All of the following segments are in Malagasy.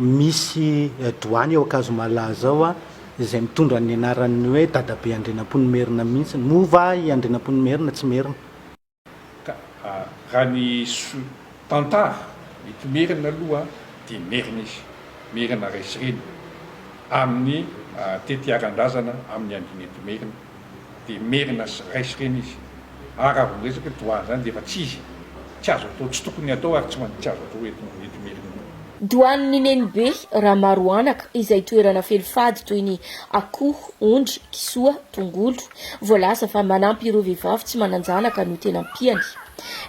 Misy doany ao Ankazomalaza ao izay mitondra ny anaran'ny hoe dadabe Andrianampoinimerina mihitsy. Moa va i Andrianampoinimerina tsy merina? Ka raha ny tantara mety merina aloha dia merina izy, merina resy reny amin'ny tetiaran-drazana amin'ny andin'Intomerina. dia merina sy ray sy reny izy. Ary raha vao miresaka hoe doany izany dia efa tsy izy. Tsy azo atao, tsy tokony hatao ary tsy manintsy azo atao eto Imerina. Doan'ny Nenibe Ramaroanaka izay toerana feno fady toy ny akoho, ondry, kisoa, tongolo. Voalaza fa manampy ireo vehivavy tsy manan-janaka no tena ampiany.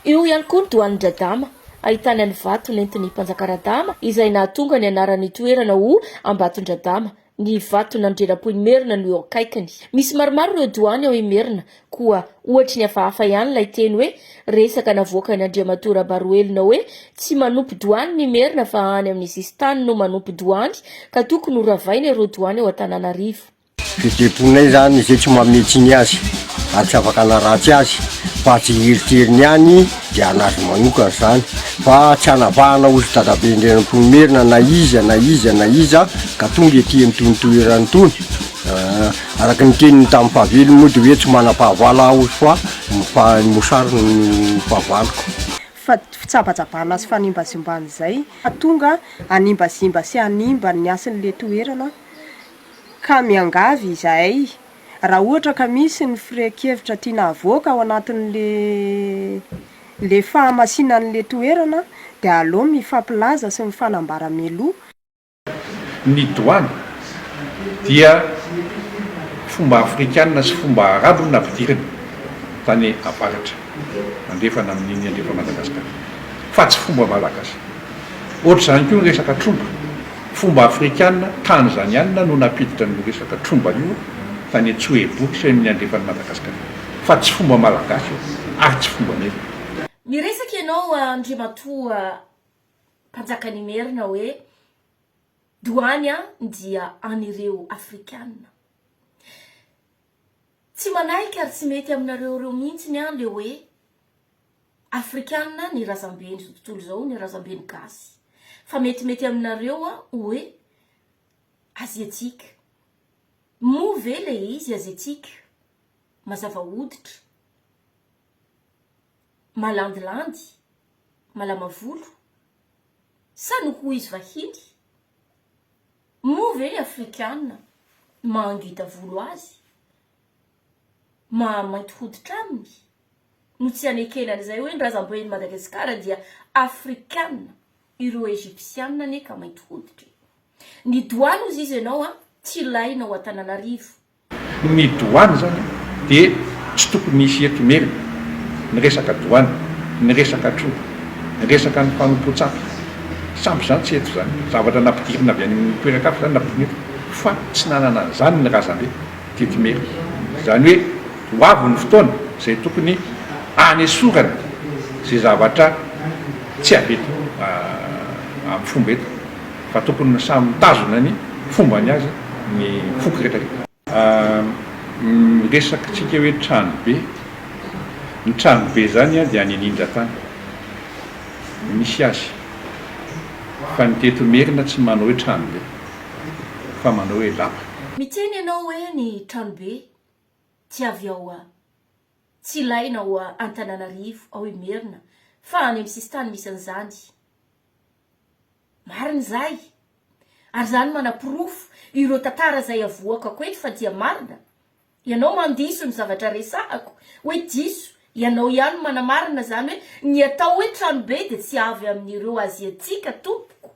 Eo ihany koa ny Doanin-dRadama ahitana ny vato nentin'ny Mpanjaka Radama izay nahatonga ny anaran'ny toerana ho Ambatondradama, Ny vaton' Andrianampoinimerina no eo akaikiny. Misy maromaro ireo doany ao Imerina, koa ohatry ny hafahafa ihany ilay teny hoe resaka navoakan' Andriamatoa Rabaroelina hoe tsy manompo doany ny Imerina fa any amin' ny sisin-tany no manompo doany ka tokony ho ravaina ireo doany ao Antananarivo. Ny deponay izany izay tsy mamintsiny azy ary tsy afaka hanaratsy azy fa tsy hieritreiriny ihany Dia an'azy manokana izany fa tsy anavahana ho ry dadabe ndry an'Ampoinimerina na iza na iza na iza ka tonga ety amin'itony toerana itony. Araka ny teniny tamin'ny fahavelony moa dia hoe tsy manam-pahavala aho fa ny fahan'ny mosary no fahavaloko. Fa fitsabajabana sy fanimbazimbana izay ka tonga hanimbazimba sy hanimba ny hasin'ilay toerana ka miangavy izahay raha ohatra ka misy ny firehan-kevitra tiana havoaka ao anatin'ilay fahamasinan'ilay toerana dia aleo mifampilaza sy mifanambara mialoha. Ny Douane dia fomba afrikana sy fomba arabo no nampidirina tany avaratra andrefana amin'iny andrefa Madagasikara fa tsy fomba malagasy. Ohatr'izany koa ny resaka trondro. Fomba afrikana tanzaniana no nampiditra an'io resaka tromba io tany Antsohibo sy amin'ny andrefan'i Madagasikara. Fa tsy fomba malagasy io ary tsy fombanay. Miresaka ianao Andriamatoa Mpanjakanimerina hoe doany an dia an'ireo afrikana. Tsy manahika ary tsy mety aminareo ireo mihitsiny an le hoe Afrikana ny razamben izao tontolo izao ny razamben gasy fa mety mety aminareo an oe aziatika moa ve le izy aziatika mazava hoditra malandilandy malama volo sa no ho izy vahiny moa ve ny afrikana mahangita volo azy maha mainty hoditra aminy no tsy hanekena an'izay hoe ny razamben'i Madagasikara dia afrikana, ireo Egyptiana anie ka mainty hoditra e! Ny douane hozy izy ianao an tsy ilaina ao Antananarivo. Ny douane izany dia tsy tokony hisy eto Imerina, ny resaka douane, ny resaka troa, ny resaka ny mpanompoan-tsampy, sampy izany tsy eto izany, zavatra nampidirina avy any toeran-kafa izany nampidirina eto fa tsy nanana an'izany ny razambe. Didyme. Izany hoe ho avy ny fotoana izay tokony hanesorana izay zavatra tsy avy eto amin'ny fomba eto fa tokony samy mitazona ny fombany azy ny foko rehetra rehetra. Miresaka tsika hoe tranobe, ny tranobe izany dia any anindratany no misy azy fa ny teto merina tsy manao hoe tranobe. fa manao hoe lapa. Miteny ianao hoe ny tranobe tsy avy ao tsy ilaina ao Antananarivo, ao Imerina fa any amin'ny sisintany misy an'izany. Marina izay. Ary izany manaporofo ireo tantara izay avoakako eto fa dia marina. Ianao mandiso ny zavatra resahako hoe diso, ianao ihany manamarina izany hoe ny atao hoe tranobe dia tsy avy amin'ireo Aziatika tompoko.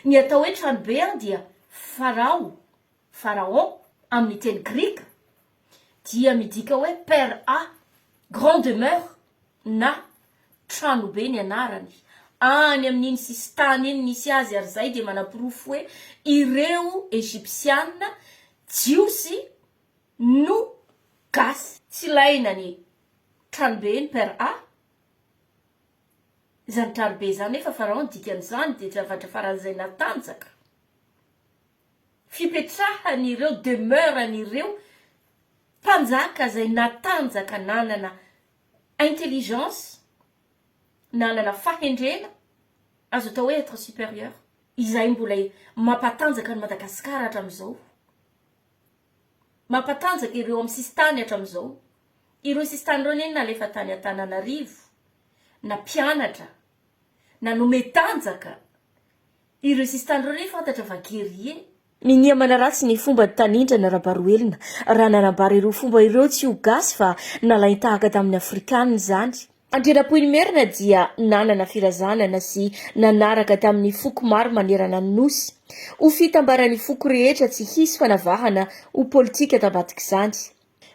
Ny atao hoe tranobe an dia Farao, Pharaon, amin'ny teny grika dia midika hoe per a, grand demeure. na Tranobe ny anarany, any amin'iny sisintany iny nisy azy ary izay dia manaporofo hoe ireo Egyptiana, Jiosy, no Gasy. Tsy ilaina ny Tranobe eny per a. Izany Tranobe izany nefa Pharaon dikan'izany dia zavatra faran'izay natanjaka. fipetrahan'ireo demeure an'ireo mpanjaka izay natanjaka nanana intelligence, nanana fahendrena, azo atao hoe être supérieur, izay mbola mampatanjaka an'i Madagasikara hatramin'izao, mampatanjaka ireo amin'ny sisintany hatramin'izao, ireo sisintany ireo anie nalefa tany Antananarivo, na mpianatra, na nome tanjaka, Ireo sista ireo re fantatra fa guerrier e! Minia manaratsy ny fomban'i Tanindrana Rabaroelina raha nanambara ireo fomba ireo tsy ho gasy fa nalain-tahaka tamin'ny afrikanina izany. Andrianampoinimerina dia nanana firazanana sy nanaraka tamin'ny foko maro manerana ny Nosy. Ho fitambaran'ny foko rehetra tsy hisy fanavahana ho politika tambadik'izany.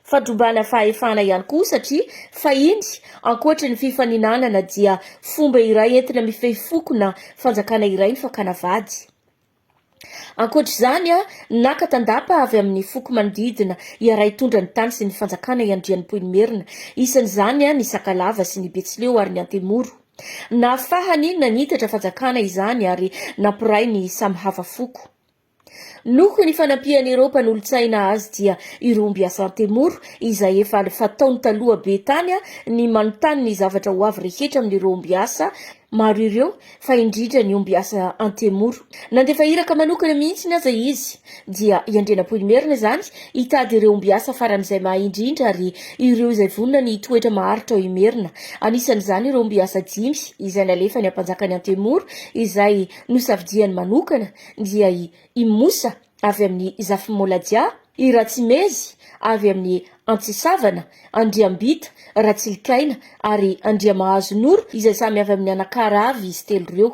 Fandrobana fahefana ihany koa satria fahiny, ankoatry ny fifaninanana dia fomba iray entina mifehy foko na fanjakana iray ny fakana vady. Ankoatra izany, naka tandapa avy amin'ny foko manodidina hiara-hitondra ny tany sy ny fanjakana i Andrianimpoinimerina, isan'izany ny Sakalava sy ny Betsileo ary ny Antemoro. Nahafahany nanitatra fanjakana izany ary nampiray ny samy hafa foko. Noho ny fanampian'ireo mpanolotsaina azy dia i Romby Asantemoro, izay efa fataony taloha be tany ny manontany ny zavatra ho avy rehetra amin'ireo ombiasa maro ireo fa indrindra ny ombiasa Antemoro. Nandefa iraka manokana mihitsy aza izy dia i Andrianampoinimerina izany hitady ireo ombiasa faran'izay mahay indrindra ary ireo izay vonona ny hitoetra maharitra ao Imerina. Anisan'izany ireo ombiasa dimy izay nalefany ampanjakan'i Antemoro izay nosafidiany manokana dia i Imosa avy amin'i Zafimoladia, i Ratsimezy avy amin'i Antsisavana, Andriambita, Ratsilikaina ary Andriamahazo Noro izay samy avy amin'ny anakara avy izy telo ireo.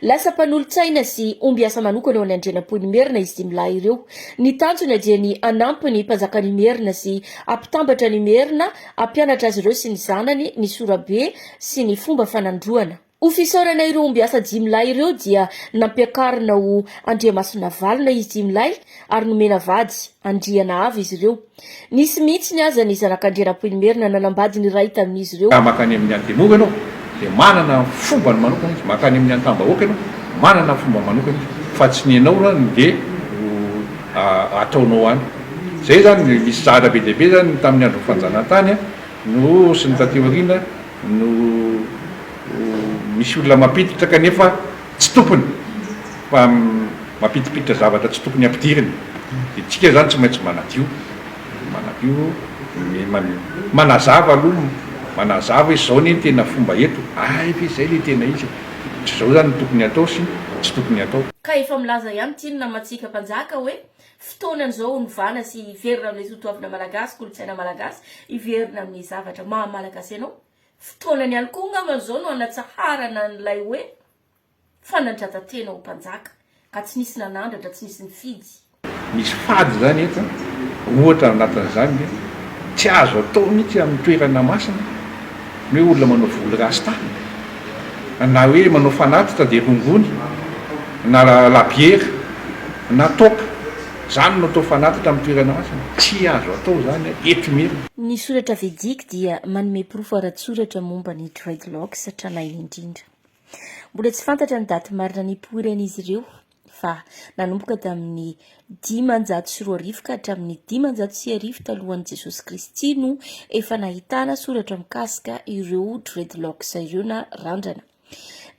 Lasa mpanolotsaina sy ombiasa manokana ao any Andrianampoinimerina izy dimy lahy ireo. Ny tanjona dia ny hanampy ny mpanjakan'Imerina sy hampitambatra an'Imerina, hampianatra azy ireo sy ny zanany ny sorabe sy ny fomba fanandroana. Ho fisaorana ireo ombiasa dimy lahy ireo dia nampiakarina ho Andriamasinavalona izy dimy lahy ary nomena vady Andrianahava izy ireo. Nisy mihitsiny aza ny zanak'Andrianampoinimerina nanambady ny iray tamin'izy ireo. Raha mankany amin'ny Antemoro ianao dia manana fombany manokana izy, mankany amin'ny Antambahoaka ianao manana fombany manokana izy fa tsy ny anao no dia ho ataonao any. Izay izany, nisy zahatra be dia be izany tamin'ny andron'ny fanjanahantany no sy ny taty aoriana. no misy olona mampiditra kanefa tsy tokony fa mampidipiditra zavatra tsy tokony hampidiriny dia tsika izany tsy maintsy manadio manadio manazava aloha manazava hoe izao anie ny tena fomba eto ay ve izay ilay tena izy e! tsy izao izany no tokony hatao sy tsy tokony hatao. Ka efa milaza ihany tynona mantsika mpanjaka hoe Fotoana izao onovana sy hiverina amin'ilay totoavina malagasy, kolontsaina malagasy, hiverina amin'ny zavatra maha malagasy anao. Fotoanany ihany koa angambany izao no hanatsaharana an'ilay hoe fanandrata-tena ho mpanjaka ka tsy nisy nanandratra, tsy nisy nifidy. Misy fady izany eto an! Ohatra anatin'izany ny hoe tsy azo atao mihitsy amin'ny toerana masina Ny hoe olona manao volo rasta na hoe manao fanatitra dia rongony na labiera na top izany no atao fanatitra amin'ny toerana masina. Tsy azo atao izany eto Imerina. Ny soratra Vedic dia manome porofo ara-tsoratra momba ny dreadlocks tranainy indrindra. Mbola tsy fantatra ny daty marina nipoiran'izy ireo. fa nanomboka tamin'ny dimanjato sy roa arivo ka hatramin'ny dimanjato sy arivo talohan'i Jesosy Kristy no efa nahitana soratra mikasika ireo dreadlocks ireo na randrana.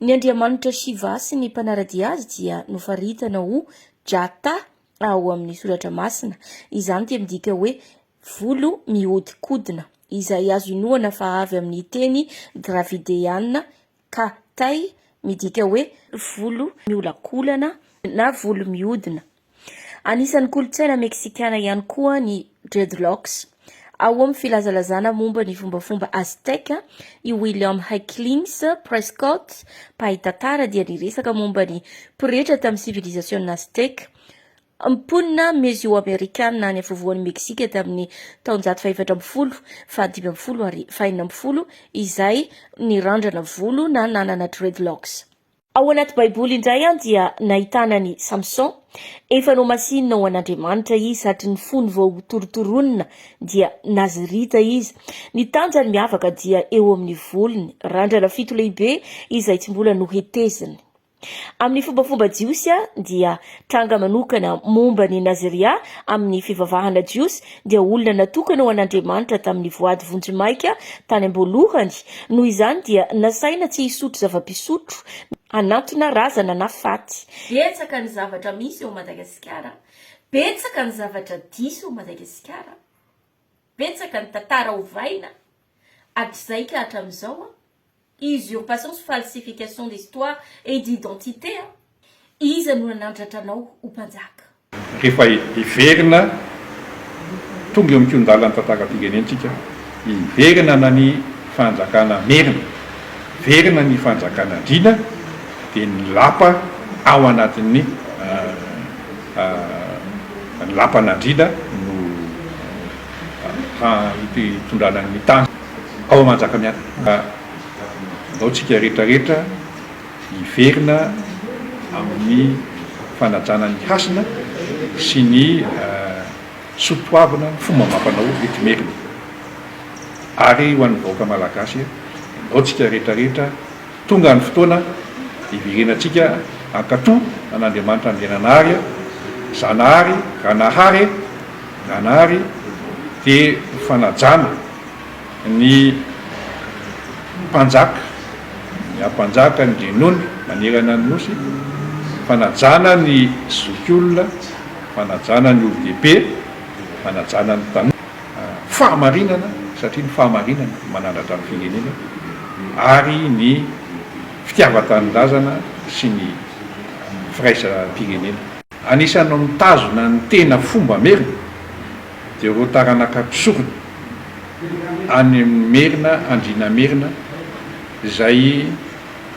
Ny andriamanitra Shiva sy ny mpanaradia azy dia nofaritana ho Jata ao amin'ny soratra masina. Izany dia midika hoe volo mihodinkodina, izay azo inoana fa avy amin'ny teny dravideana Ka tay midika hoe volo miolakolana na volo mihodina. Anisan'ny kolontsaina Meksikana ihany koa ny dreadlocks. Ao amin'ny filazalazana momba ny fombafomba Aztèque, i William Hecklings Prescott, mpahay tantara dia niresaka momba ny pretra tamin'ny sivilizasiona Aztèque, Mponina Mezioamerikana any afovoan'i Meksika tamin'ny taonjato fahefatra ambin'ny folo, fahadimy ambin'ny folo ary fahenina ambin'ny folo izay nirandrana volo na nanana dreadlocks. Ao anaty Baiboly indray dia nahitana an'i Samson. Efa nohamasinina ho an'Andriamanitra izy satry ny fony vao torotoroina dia Nazirita izy. Ny tanjany miavaka dia eo amin'ny volony, randrana fito lehibe izay tsy mbola noheteziny. Amin'ny fombafoba jiosy dia tranga manokana momba ny Naziria amin'ny fivavahana jiosy dia olona natokana ho an'Andriamanitra tamin'ny voady vonjimaika tany am-boalohany, noho izany dia nasaina tsy hisotro zava-pisotro hanantona razana na faty. Betsaka ny zavatra misy eo Madagasikara, betsaka ny zavatra diso eo Madagasikara, betsaka ny tantara ovaina hatrizay ka hatramin'izao. Usurpation sy falsification d'histoire et d'identité a! Iza no nanandratra anao ho mpanjaka? Rehefa hiverina, tonga eo amin-kihon-dalan'ny tantaram-pirenentsika, hiverina na ny fanjakana merina, hiverina ny fanjakana andriana, dia ny lapa ao anatin'ny ny lapan'andriana no hitondrana ny tany. ao Manjakamiadana. Ka andao tsika rehetra rehetra hiverina amin'ny fanajana ny hasina sy ny soa toavina ny fomba amam-panao eto Imerina. Ary ho an'ny vahoaka Malagasy, andao tsika rehetra rehetra, Tonga ny fotoana hiverenantsika hankatò an'Andriamanitra Andriananahary aho, Zanahary, Ranahary e, Ranahary dia ho fanajana ny mpanjaka, ny ampanjaka, ny renony manerana ny Nosy, fanajana ny zokiolona, fanajana ny olon-dehibe, fanajana ny tanora. fahamarinana satria ny fahamarinana no manandratra ny firenena ary ny fitiavan-tanindrazana sy ny firaisam-pirenena. Anisan'ny mitazona ny tena fomba merina dia ireo taranaka mpisorona any amin'ny merina andriana merina izay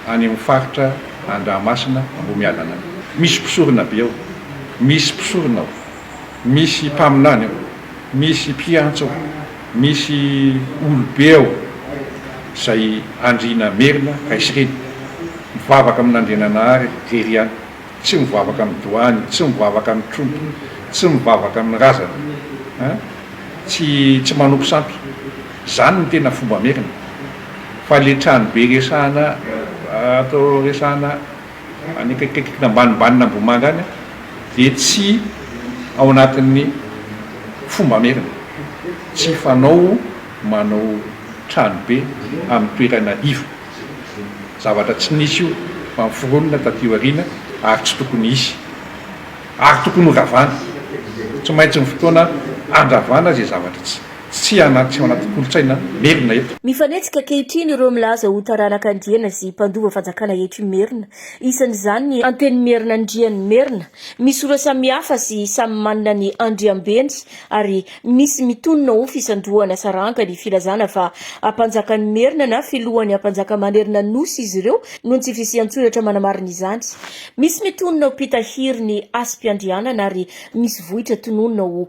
any amin'ny faritra Andramasina Ambohimiadana any. Misy mpisorona be ao, misy mpisorona ao. misy mpaminany ao, misy mpiantso ao, misy olobe ao izay andriana merina Gaisreny, mivavaka amin'Andriananahary irery ihany, tsy mivavaka amin'ny doany, tsy mivavaka amin'ny trompo, tsy mivavaka amin'ny razana, an, tsy tsy manompo sampy, izany no tena fomba merina, fa ilay tranobe resahana ato resahana. any akaikikaiky ambanimbanian'Ambohimanga any dia tsy ao anatin'ny fomba merina, tsy fanao manao tranobe amin'ny toerana iva, zavatra tsy nisy io fa niforonina taty aoriana ary tsy tokony hisy ary tokony horavana, tsy maintsy ny fotoana handravana izay zavatra tsy Tsy hanampy tsy ao anaty kolontsaina merina eto. Mifanetsika ankehitriny ireo milaza ho taranaka andiana sy mpandova fanjakana eto Imerina. Isan'izany ny Antenimierinan' Andrianimerina. Misy ora samy hafa sy samy manana ny andriambeny ary misy mitonona ho fisandrohana saranga ny filazana fa Ampanjakan'Imerina na Filohan'ny Ampanjakamanerina Nosy izy ireo noho ny tsy fisian-tsoratra manamarina izany. Misy mitonona ho mpitahiry ny hasim-piandrianana ary misy vohitra tononina ho